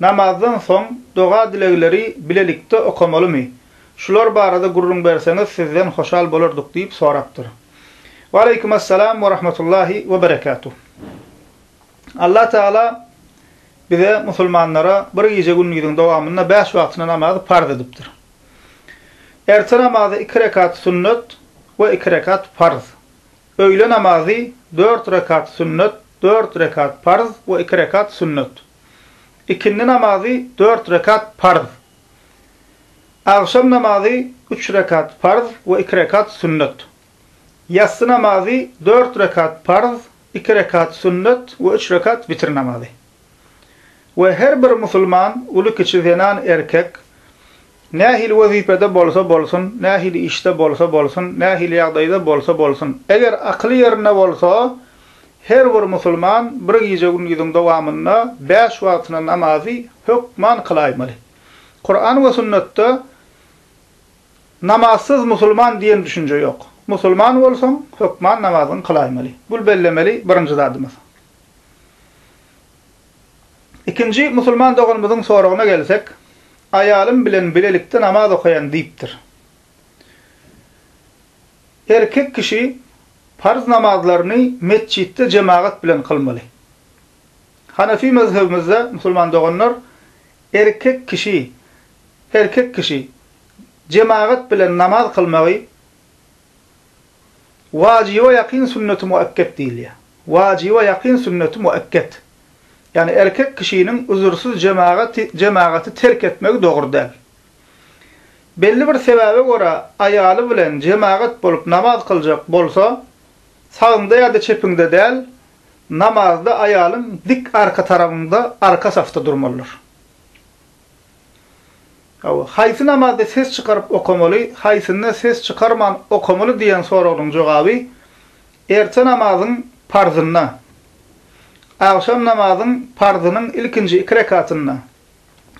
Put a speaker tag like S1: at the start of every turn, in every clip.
S1: Namazdan soň doga-dilegleri bilelikde okamalymy? Şular barada gürrüň berseňiz sizden hoşal bolardyk diýip sorapdyr. Waleýkum Assalam we Rahmatullahi we Berekatuh. Allah Tagala bize musulmanlara bir gije gündiziň dowamynda bäş wagtyna namazy parz edipdir. Erte namazy iki rekat sünnet we iki rekat parz. Öýle namazy, dört rekat sünnet, dört rekat parz we iki rekat sünnet. Ikindi namazy, dört rekat parz. Agşam namazy, üç rekat parz we iki rekat sünnet. Ýassy namazy, dört rekat parz, iki rekat sünnet we üç rekat witir namazy. We her bir musulman, uly-kiçi, zenan-erkek, Nähili wezipede bolsa bolsun, nähili işde bolsa bolsun, nähili ýagdaýda bolsa bolsun, eger akyly ýerinde bolsa, her bir musulman bir gije-gündiziň dowamynda bäş wagtyna namazy hökman kylaýmaly. Kuran we sünnetde namazsyz musulman diýen düşünje ýok. Musulman bolsaň, hökman namazyňy kylaýmaly. Bul bellemeli birinji zadymyz. Ikinji musulman doganymyzyň soragyna gelsek, Aýalym bilen bilelikde namaz okaýan diýipdir. Erkek kişi parz namazlaryny metjitde jemagat bilen kylmaly. Hanefi mezhebimizde, musulman doganlar, erkek kişi, erkek kişi, jemagat bilen namaz kylmagy, Wajyba ýakyn sünneti muekket diýilýär. Wajyba ýakyn sünneti muekket. Ýagny erkek kişiniň üzürsiz jemagaty jemagaty terk etmegi dogry däl. Belli bir sebäbe görä aýaly bilen jemagat bolup namaz kyljak bolsa, sagyňda ýa-da çepiňde däl, namazda aýalyň dik arka tarabyňda arka safda durmalydyr. Hawa, haýsy namazda ses çykaryp okamaly, haýsynda ses çykarman okamaly diýen soragynyň jogaby, Erte namazyň parzynda, Agşam namazyň parzynyň ilkinji iki rekatynda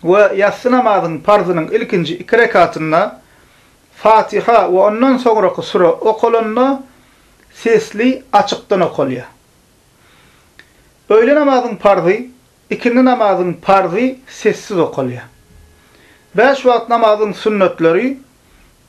S1: we Ýassy namazyň parzynyň ilkinji iki rekatynda Fatiha we ondan soňraky süre okalanda sesli açykdan okalýar. Öýle namazyň parzy Ikindi namazyň parzy sessiz okalýar. Bäş wagt namazyň sünnetleri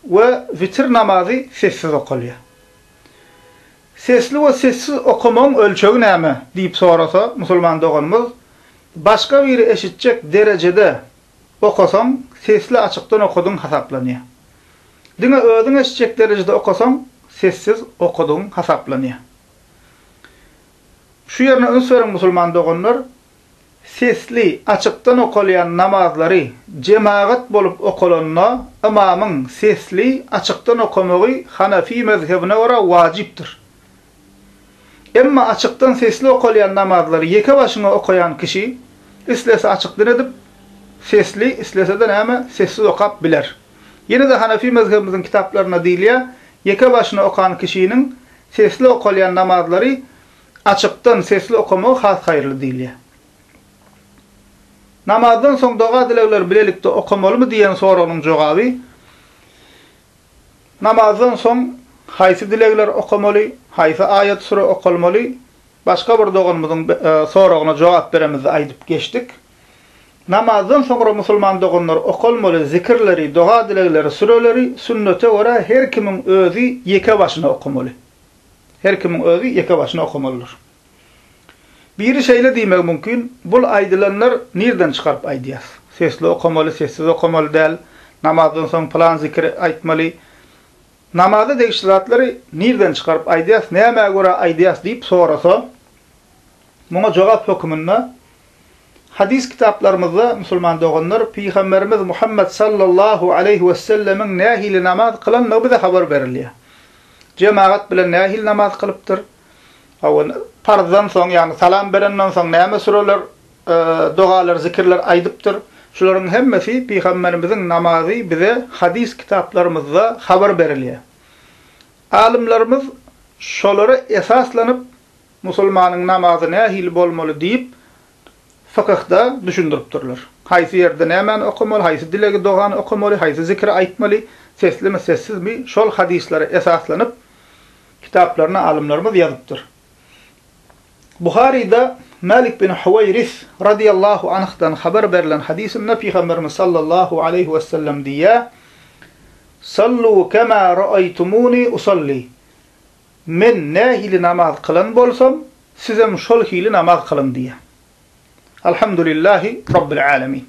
S1: we witir namazy sessiz okalýar. Sesli we sessiz okamagyň ölçegi näme? diýip sorasa musulman doganymyz, Başga biri eşitjek derejede okasaň, sesli açykdan okadygyň hasaplanýar. Diňe özüň eşitjek derejede okasaň, sessiz okadygyň hasaplanýar. Şu ýerine üns beriň musulman doganlar, sesli, açykdan okalýan namazlary jemagat bolup okalanda ymamyň sesli, açykdan okamagy Hanefi mezhebine görä wajypdyr. Emma açykdan sesli okalýan namazlary ýeke başyňa okaýan kişi islese açykdan edip, sesli, islese-de näme, sessiz okap biler. Ýene-de Hanefi mezhebimiziň kitaplarynda diýilýär, ýeke başyna okan kişiniň Sesli okalýan namazlary açykdan sesli okamagy has haýyrly diýilýär. Namazdan soň doga-dilegleri bilelikde okamalymy diýen soragynyň jogaby, Namazdan soň haýsy dilegler okamaly, haýsy aýat-süre okalmaly, başga bir doganymyzyň soragyna jogap beremizde aýdyp geçdik. Namazdan soňra musulman doganlar okalmaly zikirleri, doga-dilegleri, süreleri sünnete görä her kimiň özi ýeke başyna okamaly. Her kimiň özi ýeke başyna okamalydyr. Biri şeýle diýmegi mümkin, Bul aýdylanlar nirden çykaryp aýdýas? Sesli okamaly, sessiz okamaly däl, namazdan soň pylan zikiri aýtmaly. Namaza degişli zatlary nirden çykaryp aýdýas, nämä görä aýdýas diýip sorasa, Muňa jogap hökmünde, hadys kitaplarymyzda, musulman doganlar, Pygamberimiz Muhammet sallallahu aleýhi wessellemiň nähili namaz kylandygy bize habar berilýär. Jemagat bilen nähili namaz kylypdyr? Hawa, parzdan soň, ýagny salam berenden soň näme süreler, dogalar, zikirler aýdypdyr? Şularyň hemmesi Pygamberimiziň namazy bize hadys kitaplarymyzda habar berilýär. Alymlarymyz şolara esaslanyp, Musulmanyň namazy nähili bolmaly diýip, fykyhda düşündiripdirler. Haýsy ýerde nämäni okamaly, haýsy dilegi, dogany okamaly, haýsy zikiri aýtmaly, seslimi, sessizmi, şol hadyslara esaslanyp, kitaplaryna alymlarymyz ýazypdyr. Buharyda Mälik bin Huwaýris radiyallahu anhdan habar berlen hadysynda Pygamberimiz sallallahu aleýhi wesellem diýýär, Sallu kema raaýtumuni usalli. Men nähili namaz kylan bolsam, sizem şol hili namaz kylyň diýýär. Alhamdulillahi Rabbil Alemin.